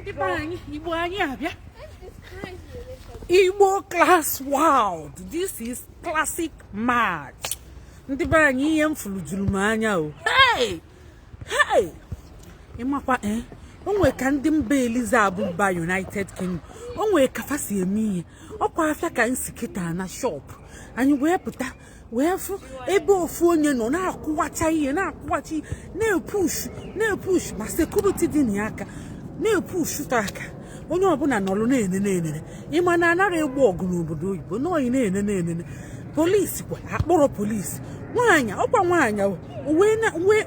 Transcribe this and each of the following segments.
ndị be anyị igbo anyị abịa igbo class world this is classic match ndị be anyị ihe m fụlụ juru m anya o hey hey ịmakwa ee eh? o nwere ka ndị mba eliza bụ mba united kingdom o nwere ka fa si eme ihe ọkwa afịa ka m si kịta na shop anyị wee pụta wee fụ ebe ofu onye nọ na-akụwacha ihe na-akụwacha ihe na-epushu na-epushu ma sekuriti dị na ya aka na-epushu ta aka onye ọbụla nọrọ na-ene na-enene ịma na a naghị egbo ọgụ n'obodo oyibo n'oyi na-ene na-enene polisi kwa a kpọrọ polisi nwaanyị ọkwa nwaanyị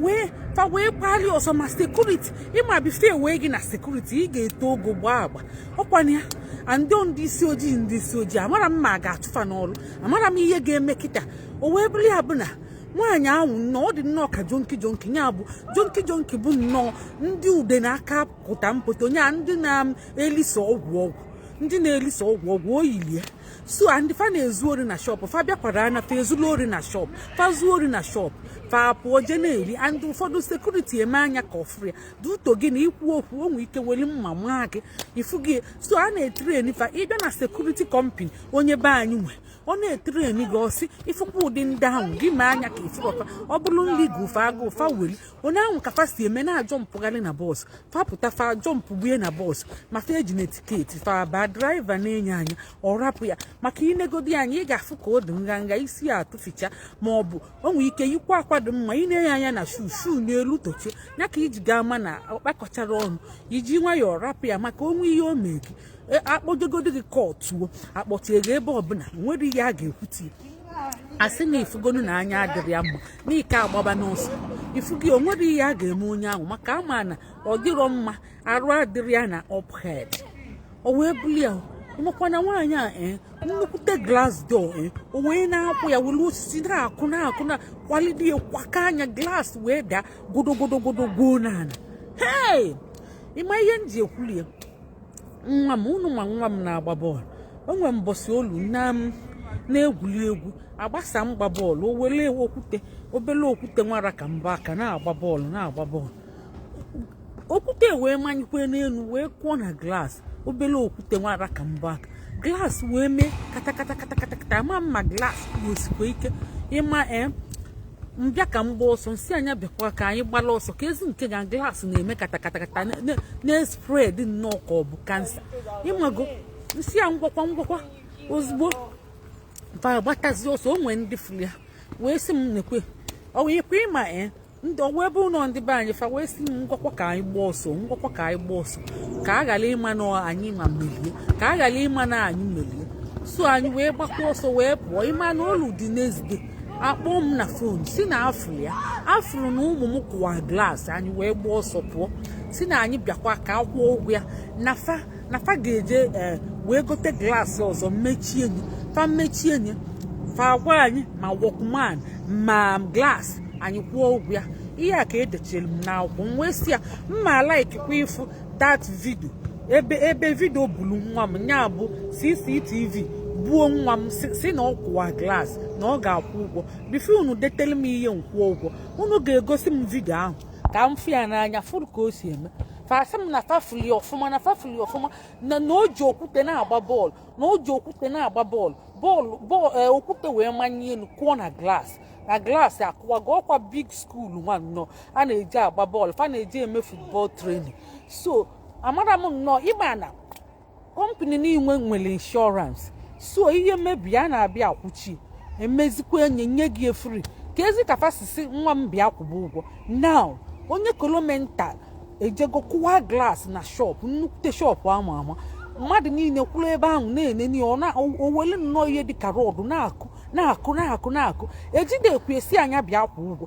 wee fa wee gbali ọsọ ma sekuriti ịma bifọ e wee gị na sekuriti ị ga-eto ogo gbaa agba ọkwa na ya and ndị isi ojii ndị isi ojii amara m ma a ga-achụ fa n'ọrụ amara m ihe ga-eme kịta o wee bụrụ ya bụ na nwaanyị ahụ nnọọ ọ dị nnọọ ka jonki jonki ya bụ jonki jonki bụ nnọọ ndị ude na aka pụta mpụta onye a ndị na-elisa ọgwụ ọgwụ ndị na-elisa ọgwụ ọgwụ elie so ndị fa na-ezu ori na shọpụ fa bịakwara anya fa ezulu ori na shọpụ fa zuo ori na shọpụ fa pụọ je na-eri and ụfọdụ sekuriti eme anya ka ọ fụrọ ya due to gị na-ekwu okwu o nwee ike weli mma maa gị ifugo so a na-etreni fa ị bịa na sekuriti kọmpani onye be anyị nwe ọ na-etreni gị ọ sị ị fụkwa ụdị ndị ahụ gị mee anya ka ị fụrọ fa ọ bụrụ nri gụọ fa agụụ fa weli onye ahụ ka fa si eme na-ajọmpụgharị na bọs fa pụta fa ajọmpụgbue na bọs ma fa ejirọ tiketi fa ba draiva nee ya anya ọ rapụ ya maka i negodi ya anya ị ga-afụ ka ọ dị nga nga isi ya atụficha ma ọ bụ o nwee ike yikwa akwa dị mma ị nee ya anya na shuu shuu n'elu tochie ya ka i ji ga-ama na ọ kpakọcharọ ọnụ i ji nwayọọ rapụ ya maka o nwee ihe o mee gị e, a kpọjegodi gị kọtụ o a kpọjee gị ebe ọbụla o nwere ihe a ga-ekwuti a sị na ị fụgonụ na anya adịrọ ya mma na i ka-agbabanụ ọsọ ifugo o nwerọ ihe a ga-eme onye ahụ maka a ma na ọ dịrọ mma arụ adịrọ ya na uphead o wee buli ya ị makwa na nwaanyị a ee eh, nnukwute glass door ee eh, o wee na-akụ ya were osisi na-akụ na-akụ na-akụwalide ya kwaka anya glass wee daa godogodogodo goo n'ala hei ịma ihe m ji ekwuli ya nwa m unu ma nwa m na-agba bọọlụ o nwe mbọsị olu na m na-egwuli egwu agbasa mgba bọọlụ o were okwute obele okwute nwa ra ka mbọ aka na-agba bọọlụ na-agba bọọlụ okwute wee manyekwe n'elu wee kụọ na glass obele okwute nwa ra ka mbọ aka glass wee mee katakata katakata ma mma glass o sikwa ike ịma ee eh, m bịa ka m gbaa ọsọ m sị nya bịakwa ka anyị gbala ọsọ ka ezi nke ga glaasị na-eme katakatakata na-espred nnọọ ka ọ bụ kansa ị mago m sị ya ngwakwa ngwakwa ozugbo mpa gbatazi ọsọ o nwee ndị furu ya wee sị m nekwe ọ wee kwe ịma ee ndị ọwa ebe ụlọ ndị be anyị fa wee sị ngwakwa ka anyị gbaa ọsọ ngwakwa ka anyị gbaa ọsọ ka a ghara ịma na anyị ma melie ka a ghara ịma na anyị melie so anyị wee gbakwa ọsọ wee pụọ ị ma na o lu the next day a kpọọ m na fon sị na a fụrụ ya a fụrụ na ụmụ m kụwa glaasị anyị wee gbaa ọsọ pụọ sị na anyị bịakwa ka a kwụọ ụgwọ ya na fa na fa ga-eje eh, wee gote glaasị ọzọ mechie nye fa mechie nye fa agwa anyị ma wọkman ma glaasị anyị kwụọ ụgwọ ya ihe a ka e dechere m n'akwụkwọ m wee sị ya m ma laikikwa ịfụ dat vidio ebe ebe vidio bulu nwa m nya bụ CCTV buo nwa m sị na ọ kụwa glaasị na ọ ga-akwụ ụgwọ bifo unu detele m ihe m kwụọ ụgwọ unu ga-egosi m vidio ahụ ka m fụ ya n'anya fụrụ ka o si eme fa sị m na fa fụlị ọfụma na fa fụlị ọfụma na na o ji okwute na-agba bọọlụ na o ji okwute na-agba bọọlụ bọọlụ bọọlụ eh, okwute wee manye elu kụọ na glaasị na glaasị akụwago ọkwa big skuul nwa nnọọ a na-eji agba bọọlụ fa na-eji eme futbọl trenin so amara m nnọọ ị ma na kọmpani niile nwere inshọransị so ihe mebie a na-abịa akwụchi emezikwa enye nye gị e free kezi ka fa si sị nwa m bịa kwụba ụgwọ now onye kolomental ejego kụwa glass na shop nnukwute shop a ma ama mmadụ niile kwụrụ ebe ahụ na-enene ya o wele nnọọ ihe dịka rọdụ na-akụ na-akụ na-akụ na-akụ e jidekwu e sị nya bịa kwụọ ụgwọ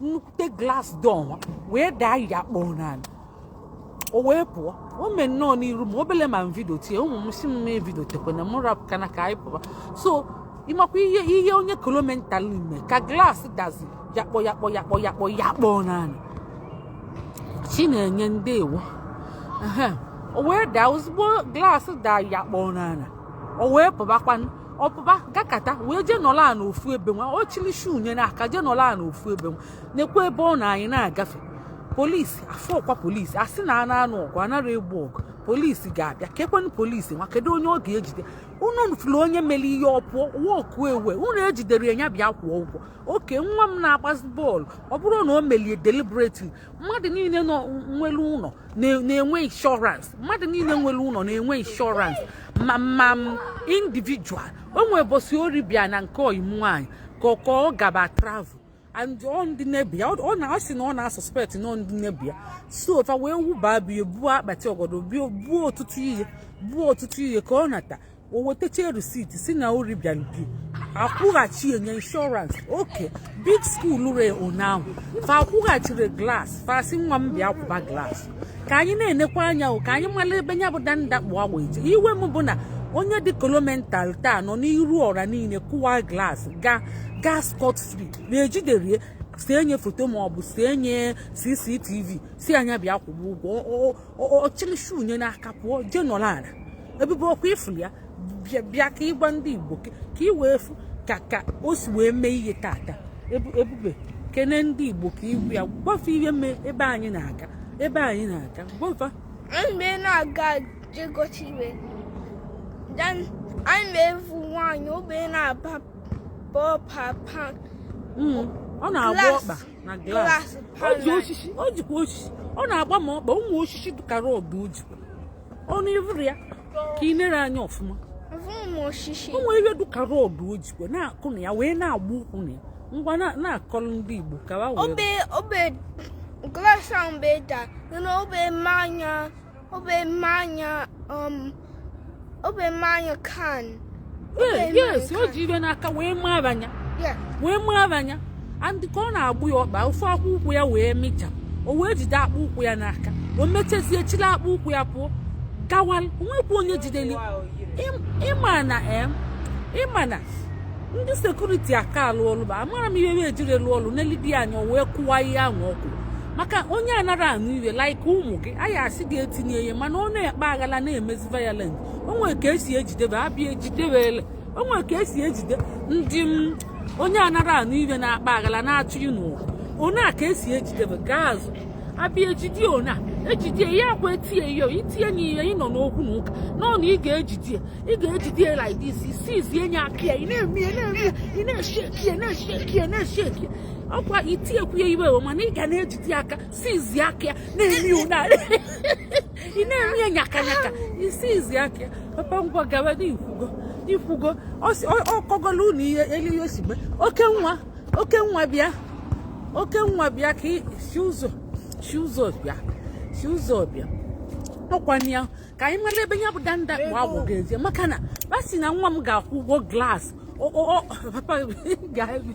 nnukwute glas dọ nwa wee daa yakpọ n'ala o wee pụọ o mee nnọọ n'iru m obele ma m vidiote e ụmụ m sị m m evidiotekwena m rapụ kana ka anyị pụba so ị makwa ihe ihe onye kolomental ime ka glas dazi yakpọ yakpọ yakpọ yakpọ yakpọ n'ala Chinenye ndewo o wee daa ozugbo glas daa yakpọ n'ala o wee pụbakwanụ ọ pụba gakata wee jee nọla a n'ofu ebe nwa o chiri shu nye n'aka jee nọla a n'ofu ebe nwa nekwa ebe ọ nọ anyị na-agafe polisi afọkwa polisi a sị na a na-anụ ọgụ anara egbu ọgụ polisi ga-abịa kekwenụ polisi nwa kedu onye ọ ga-ejide unu fụrụ onye mere ihe ọ pụọ walk away unu ejiderọ ya bịa kwụọ ụgwọ oke nwa m na-agbazi bọọlụ ọ bụrụ na o melie deliberately mmadụ niile nọ nwere ụlọ na-enwe inshọrans mmadụ niile nwere ụlọ na-enwe inshọrans ma ma individual o nwee ụbọchị ori bịa na nke ọyị m nwaanyị ka ọ ka ọ gaba travel and ọ ndị nebọ ya ọ na-asị na ọ na-asuspekt na ọ ndị nebọ ya so fa wee wụba bịa buo akpati ọgọdọ buo ọtụtụ ihe buo ọtụtụ ihe ka ọ nata o wetacha receipt sị na o ribịara bi akwụghachi enye insurance oke big school re ụnyaahụ fa akwụghachiri glass fa sị nwa m bịa kwụba glass ka anyị na-enekwa anya ka anyị mara ebe nya bụ danda kpụ agwọ eje iwe m bụ na onye dị kolomental taa nọ n'iru ọra niile kụwa glass ga ga scot free na ejiderie sie nye foto ma ọ bụ sie nye cctv sị nya bịa kwụba ụgwọ ọ chịlị shoe nye n'aka pụọ jee nọrọ ala ebube ọ kwa ị fụrụ ya bịa ka ị gwa ndị igbo ka ị wee fụ ka ka o si wee mee ihe tata ebube kene ndị igbo ka i wee gwa fa ihe mee ebe anyị na-aga ebe anyị na-aga gwa fa mgbe na-aga jegochi iwe anyị na-evu nwaanyị obe na-aba papa hmm, ọ na-agba ọkpa na glass o jikwa osisi ọ na-agba ma ọkpa o nwe osisi dịka rod o jikwa ọnụ ị fụrụ ya ka ị nere anya ọfụma o nwere ihe dịka rod o jikwa na-akụ na ya wee na-agba ụkwụ na ya ngwa na-akọrọ ndị Igbo ka ha wee Obe mmanya um obe mmanya can. Yes, yes, o ji ibe n'aka wee mara anya. Wee mara anya. And ka ọ na-agba ya ọkpa ofu akpụ ụkwụ ya wee mịcha. O wee jide akpụ ụkwụ ya n'aka. O mechezie chịrị akpụ ụkwụ ya pụọ. Gawa, o nwekwa onye jideli. Ịma na em, eh, ịma na ndị security aka alụ ọlụ ba amara m ihe e jiri lụọ ọlụ n'elidi anya wee kụwa ihe ahụ ọkụ maka onye anara anụ iwe like ụmụ gị anyị asị gị etinye ihe mana ọ na-akpa aghala na-emezi violent o nwe ka e si ejidebe abịa ejidebe ele o nwe ka e si ejide ndị m onye anara anụ iwe na-akpa aghala na-achụ yi n'ụwa o nwe ka e si ejidebe gaa azụ abịa ejide one a ejide ya akwa etinye ihe itinye nye ihe ị nọ n'okwu na ụka nọ na ị ga-ejide ya ị ga-ejide ya like this i seize nye aka ya ị na-eme ya na-eme ya ị na-esheki ya na-esheki ya na-esheki ya ọ kwa i tinyekwu ya iwe ewe mana ị ga na-ejide aka seize aka ya na-eme nya ị na-eme ya nyaka nyaka i seize aka ya papa ngwa gawa na i kwugo i kwugo ọ kọgolu ụlọ ihe elu ya osigbe oke nwa oke nwa bịa oke nwa bịa ka si ụzọ si ụzọ bịa si ụzọ bịa ọ kwa nya ka anyị mara ebe ya bụ danda kpụ agwọ ga-eje maka na a sị na nwa m ga-akwụ ụgwọ glass papa ga-ebi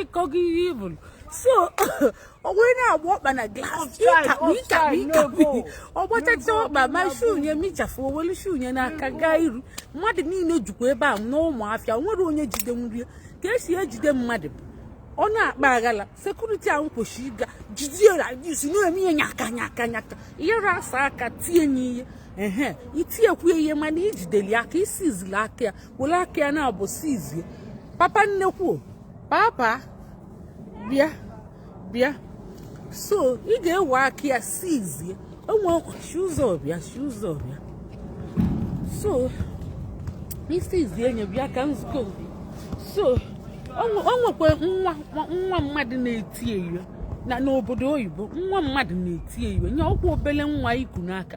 ịkọgo ihe ibulu so o wee na-agba ọkpa na glass ọ gbachacha ọkpa ma shoe nye mịchafụ o welu shoe nye n'aka gaa iru mmadụ niile jukwa ebe a na ụnọ afịa nwere onye jide nye ka esi ejide mmadụ bụ ọ na-akpa aghala security ahụ kwesịrị ịga jidie radis na-eme ihe nyaka nyaka nyaka ihe rasa aka tie ya ihe i tinyekwu iwe mana ijideli aka i sizili aka ya were aka ya naabọ sizie papa nnekwu papa bịa bịa so ị ga-ewe aka ya sizie enwe ọkwachi ụzọ bịa si ụzọ bịa so i sizie nye bịa ka nsịkọ so o nwekwa nwa nwa mmadụ na-eti ihe o na n'obodo oyibo nwa mmadụ na-eti ihe o nye ọkwa obele nwa i ku n'aka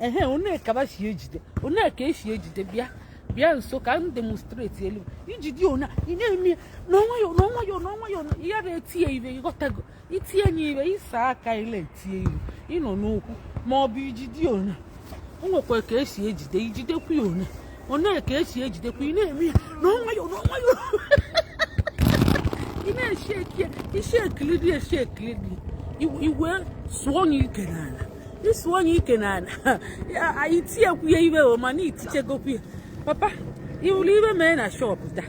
ehe o nwe ka ba si ejide o nwe ka esi ejide bịa bịa nso ka m demonstrate elu i jidie ona ị na-eme n'ọnwayọ n'ọnwayọ n'ọnwayọ ya na-eti nye ibe ị ghọtago i tie nye ibe ị saa aka ile eti nye ibe ị nọ n'okwu ma ọ bụ ijidie ona o nwekwa ka esi ejide i jidekwu ya ona o nwe ka esi ejidekwa ị na-eme ya n'ọnwayọ n'ọnwayọ ị na-esheki ya i shekili dị eshekili dị i wee sụọ nye ike n'ala ị sụọ nye ike n'ala i tinyekwu ya iwe o mana itichegokwu ya papa ị hụrụ ihe mee na shop taa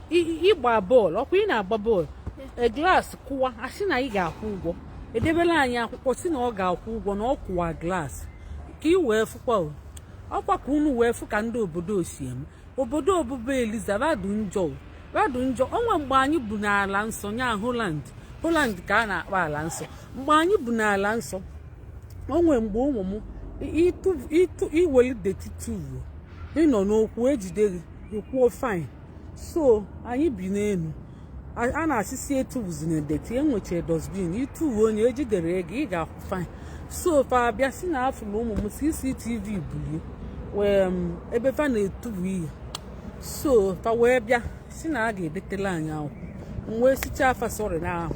ịgba bọọlụ ọkwa ị na-agba bọọlụ e, glass kụwaa a sị na ị ga-akwụ ụgwọ edebela anyị akwụkwọ si na ọ ga-akwụ ụgwọ na ọ kụwa glass ka ị wee fụkwa ọkwa ka unu wee fụ ka ndị obodo si eme obodo obube Eliza ba dụ njọ ba dụ njọ o nwe mgbe anyị bu n'ala nsọ nya Holland Holland ka a na-akpọ ala nsọ mgbe anyị bu n'ala nsọ o nwe mgbe ụmụ m ịtụ i weli dirty tuvu ị nọ n'okwu e jide gị ị kwụọ fine so anyị bi n'elu a na-asị sị etubuzina dirty e nwechara dustbin i tuvuo nye e jidere gị ị ga-akwụ fine so fa abịa si na a fụlụ ụmụ m CCTV bulie wee um, ebe fa na-etubu ihe so fa wee bịa si na a ga-edetela anyị akwụkwọ m wee sịchaa fa sorry na ahụ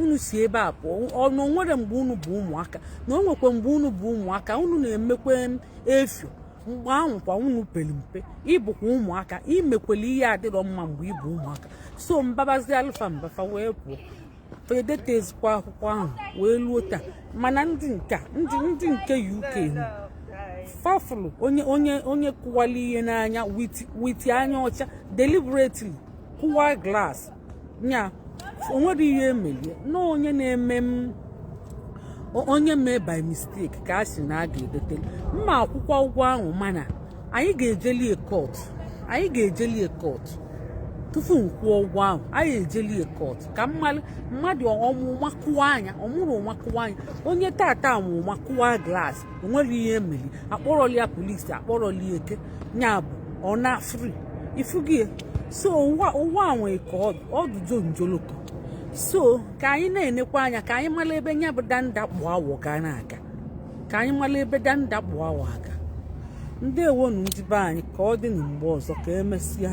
unu si ebe a pụọ na o nwere mgbe unu bụ ụmụaka na o nwekwa mgbe unu bụ ụmụaka unu na-emekwa efio mgbe ahụ kwa unu pere mpe ị bụkwa ụmụaka i mekwela ihe adịrọ mma mgbe ị bụ ụmụaka so m babazialụ fa mba fa wee pụọ edetezikwa akwụkwọ ahụ wee luo taa mana ndị nke ndị ndị nke UK fa fụlụ onye onye onye kụwali ihe n'anya with anya ọcha deliberately kụwa glass nya onwere ihe emelie na onye na-eme m onye mee by mistake ka a sị na a ga-edeteli m akwụkwọ ụgwọ ahụ mana anyị ga-ejelie court anyị ga-ejelie court tupu m kwụọ ụgwọ ahụ anyị ejelie court ka mmadụ mmadụ ọ mụ ụma kụwa anya ọ mụrụ ụma kụwa anya onye tata mụ ụma kụwa glass onwere ihe emeli akpọrọli ya polisi akpọrọli eke nya bụ ọ na free ifugi so ụwa nwe ka ọdụdo njoloko so ka anyị na-enekwa anya ka anyị mara ebe nya bụ danda kpụ awọ ga na-aga ka anyị mara ebe danda kpụ awọ aga ndeewonu ndị be anyị ka ọ dị na mgbe ọzọ ka emesịa